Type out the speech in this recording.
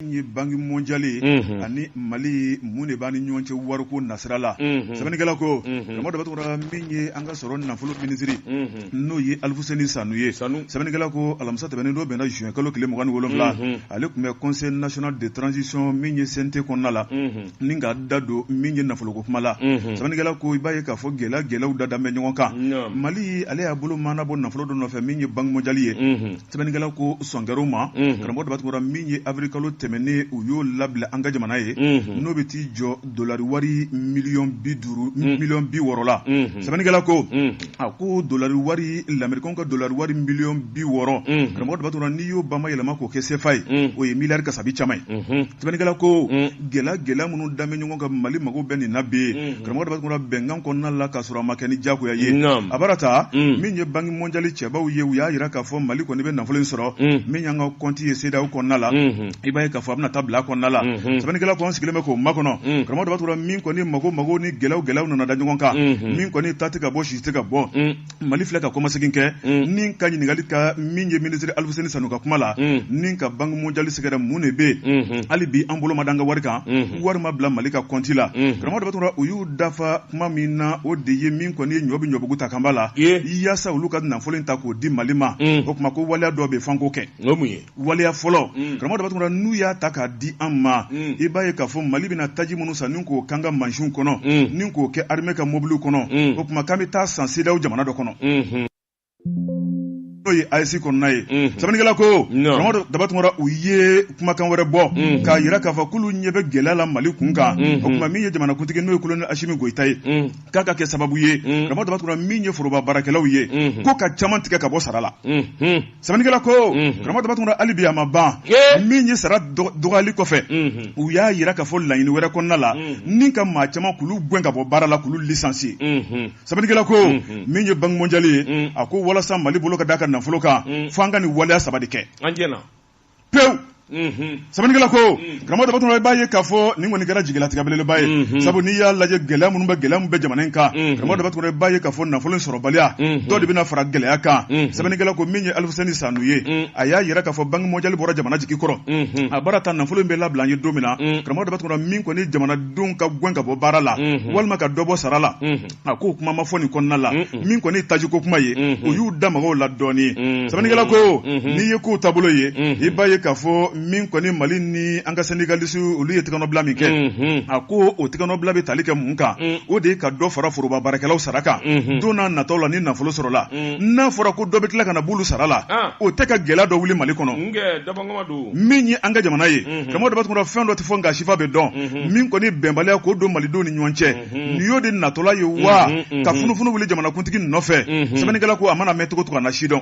min ye banki mɔndiyali ye Unhun. ani mali mun de b'a ni ɲɔgɔn cɛ wariko nasira la Unhun. sɛbɛnnikɛla ko Unhun. karamɔgɔ daba tunkara min ye an ka sɔrɔ nafolo minisiri Unhun. n'o ye alifuseni sanu ye Sanu. sɛbɛnnikɛla ko alamisa tɛmɛnen don bɛnna juin kalo tile mugan ni wolonwula Unhun. ale tun bɛ conseil national de transition min ye CNT kɔnɔna la Unhun. ni ka da don min ye nafoloko kuma la Unhun. sɛbɛnnikɛla ko i b'a ye k'a fɔ gɛlɛya gɛlɛyaw dadalen bɛ ɲɔgɔn kan Naam. mali ale y'a bolo maana bɔ nafolo dɔ nɔfɛ min ye banki mɔndiyali ye Unhun. sɛbɛnnikɛla ko sɔn kɛra o ma Unhun. karamɔgɔ daba tunkara min ye avril kalo tɛmɛnen u y'o labila an ka jamana ye Unhun. n'o bɛ t'i jɔ dolari wari miliyɔn bi duuru miliyɔn bi wɔɔrɔ la Unhun. sɛbɛnnikɛla ko Unhun. a ko dolari wari lamerikanw ka dolari wari miliyɔn bi wɔɔrɔ Unhun. karamɔgɔ daba tunkara n'i y'o bama yɛlɛma k'o kɛ sefa ye Unhun. o ye miliyari kasabi caman ye Unhun. Sɛbɛnnikɛla ko gɛlɛya gɛlɛya minnu dalen bɛ ɲɔgɔn kan mali mako bɛ nin na bi karamɔgɔ daba tunkara bɛnkan kɔnɔna la ka sɔrɔ a ma kɛ ni jagoya ye a bara ta min ye banki mɔndiyali cɛbaw ye u y'a jira k'a fɔ mali kɔni bɛ nafolo in sɔrɔ min y'an ka kɔnti ye CEDEAO kɔnɔna la i b'a ye k'a fɔ a bɛna taa bila kɔnɔna la sɛbɛnnikɛla ko an sigilen bɛ k'o makɔnɔ karamɔgɔ daba tunkara min kɔni mako mako ni gɛlɛya gɛlɛya nana da ɲɔgɔn kan min kɔni ta tɛ ka bɔ sisi tɛ ka bɔ mali filɛ ka kɔmasegin kɛ ni ka ɲininkali kɛ min ye minisiri alifuseni sanu ka kuma la ni ka banki mɔndiyali sɛgɛrɛ mun de bɛ yen hali bi an bolo ma da an ka wari kan wari ma bila mali ka kɔnti la karamɔgɔ daba tunkara u y'u dafa kuma min na o de ye min kɔni ye ɲɔ bɛ ɲɔbugu ta kanba la yaasa olu ka nafolo in ta k'o di mali ma o tuma ko waleya dɔ bɛ fo an k'o kɛ waleya fɔlɔ mm. karamɔgɔ daba tunkara n'u y'a ta k'a di an ma mm. i b'a ye k'a fɔ mali bɛna taji minnu san ni k'o kɛ an ka mansinw kɔnɔ mm. ni k'o kɛ armée ka mobiliw kɔnɔ o tuma k'an bɛ taa san CEDEAO jamana dɔ kɔnɔ mm-hmm. n'o ye AES kɔnɔna ye mm-hmm. sɛbɛnnikɛla ko karamɔgɔ daba tunkara u ye kumakan wɛrɛ bɔ mm-hmm. k'a jira k'a fɔ k'olu ɲɛ bɛ gɛlɛya la mali kun kan o tuma min ye jamanakuntigi n'o ye kolonɛli asimi goyita ye k'a ka kɛ sababu ye karamɔgɔ daba tunkara min ye foroba baarakɛlaw ye ko ka caman tigɛ ka bɔ sara la Sɛbɛnnikɛla ko karamɔgɔ daba tunkara hali bi a ma ban min ye sara dɔgɔyali kɔfɛ u y'a jira k'a fɔ laɲini wɛrɛ kɔnɔna la ni ka maa caman k'olu gɛn ka bɔ baara la k'olu licencier sɛbɛnnikɛla ko min ye banki mɔndiyali ye a ko walasa mali bolo ka da a ka nafolo kan fo an ka nin waleya saba de kɛ pewu sɛbɛnnikɛla ko karamɔgɔ daba tunkara i b'a ye k'a fɔ nin kɔni kɛra jigilatigɛ belebeleba ye sabu n'i y'a lajɛ gɛlɛya minnu bɛ gɛlɛya min bɛ jamana in kan karamɔgɔ daba tunkara i b'a ye k'a fɔ nafolo in sɔrɔbaliya dɔ de bɛna fara gɛlɛya kan sɛbɛnnikɛla ko min ye alifuseni sanu ye a y'a jira k'a fɔ banki mɔndiyali bɔra jamana jigi kɔrɔ a bara ta nafolo in bɛ labila an ye don min na karamɔgɔ daba tunkara min kɔni jamanadenw ka gɛn ka bɔ baara la walima ka dɔ bɔ sara la a ko kuma ma fɔ nin kɔnɔna la min kɔni tajiko kuma ye o y'u da mɔgɔw la dɔɔnin sɛbɛnnikɛla ko n'i ye kow taabolo ye i b'a ye k'a fɔ min kɔni mali ni an ka sendikalisi olu ye tɛgɛnɔbila min kɛ a ko o tɛgɛnɔbila bɛ tali kɛ mun kan o de ye ka dɔ fara foroba baarakɛlaw sara kan don na nataw la ni nafolo sɔrɔla n'a fɔra ko dɔ bɛ tila ka na b'olu sara la o tɛ ka gɛlɛya dɔ wuli mali kɔnɔ min ye an ka jamana ye karamɔgɔ daba tunkara fɛn dɔ tɛ fɔ nka sifa bɛ dɔn min kɔni bɛnbaliya k'o don malidenw ni ɲɔgɔn cɛ nin y'o de natɔla ye wa ka funufunu wuli jamanakuntigi nɔfɛ sɛbɛnnikɛla ko a mana mɛn cogo o cogo a na sidɔn